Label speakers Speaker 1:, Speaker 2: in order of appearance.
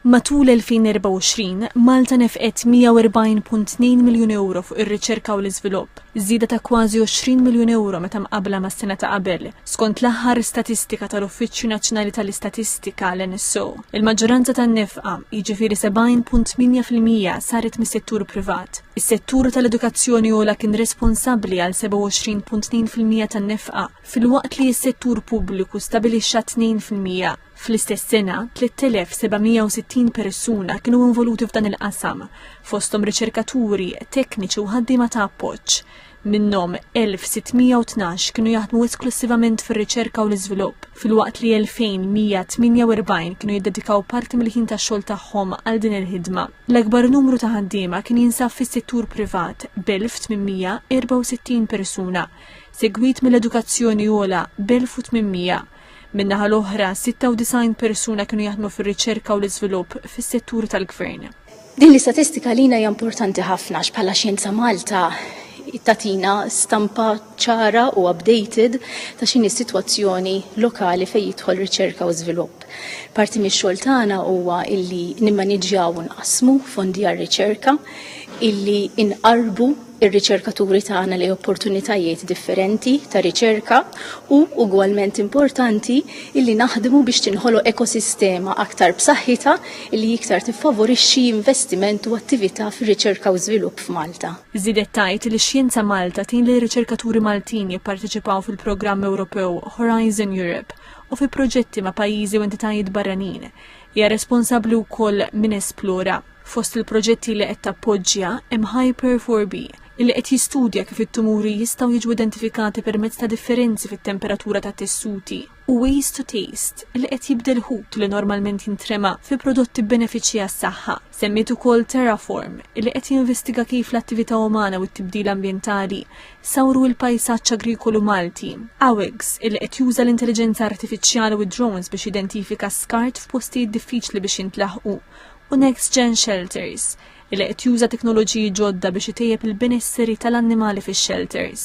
Speaker 1: Matul 2024, Malta nefqet 140.2 miljun ewro fuq ir-riċerka u l-iżvilupp, żieda ta' kważi 20 miljun ewro meta mqabbla mas-sena ta' qabel, skont l-aħħar statistika tal-Uffiċċju Nazzjonali tal-Istatistika, l-NSO. Il-maġġoranza tan-nefqa, jiġifieri 70.8 fil-mija, saret mis-settur privat. Is-settur tal-edukazzjoni ogħla kien responsabbli għal 27.2 fil-mija tan-nefqa, filwaqt li s-settur pubbliku stabilixxa 2 fil-mija. Fl-istess sena, 3760 persuna kienu involuti f'dan il-qasam, fosthom riċerkaturi, tekniċi u ħaddiema ta' appoġġ. Minnhom 1612 kienu jaħdmu esklussivament fir-riċerka u l-iżvilupp, filwaqt li 2148 kienu jiddedikaw parti mill-ħin tax-xogħol tagħhom għal din il-ħidma. L-akbar numru ta' ħaddiema kien jinsab fis-settur privat b'1864 persuna, segwit mill-edukazzjoni ogħla b'1800. Min-naħa l-oħra, 96 persuna kienu jaħdmu fir-riċerka u l-iżvilupp fis-settur tal-gvern. Din l-istatistika
Speaker 2: lina hija importanti ħafna x'bħala Xjenza Malta tatina stampa ċara u updated ta' x'inhi s-sitwazzjoni lokali fejn jidħol riċerka u żvilupp. Parti mix-xogħol tagħna huwa illi nimmaniġġjaw u nqassmu fondi għar-riċerka, illi inqarrbu ir-riċerkaturi tagħna lejn opportunitajiet differenti ta' riċerka u ugwalment importanti illi naħdmu biex tinħoloq ekosistema aktar b'saħħitha illi iktar tiffavorixxi investiment u attività fir-riċerka u żvilupp f'Malta. Żiedet tgħid li
Speaker 1: Xjenza Malta tgħin lir-riċerkaturi Maltin jipparteċipaw fil-programm Ewropew Horizon Europe u fi proġetti ma' pajjiżi u entitajiet barranin. Hija responsabbli wkoll minn Esplora, Fost il-proġetti li qed tappoġġja hemm Hyper 4B, illi qed jistudja kif it-tumuri jistgħu jiġu identifikati permezz ta' differenzi fit-temperatura tat-tessuti, u Ways to Taste, li qed jibdel ħut li normalment jintrema fi prodotti b'benefiċċji għas-saħħa. Semmiet ukoll Terraform, illi qed jinvestiga kif l-attività umana u t-tibdil ambjentali sawru l-pajsaġġ agrikolu Malti, Awigs, illi qed juża l-intelliġenza artifiċjali u d-drones biex jidentifika skart f'postijiet diffiċli biex jintlaħqu, u Next Gen Shelters, li qed juża teknoloġiji ġodda biex itejjeb il-benesseri tal-annimali fix-xelters.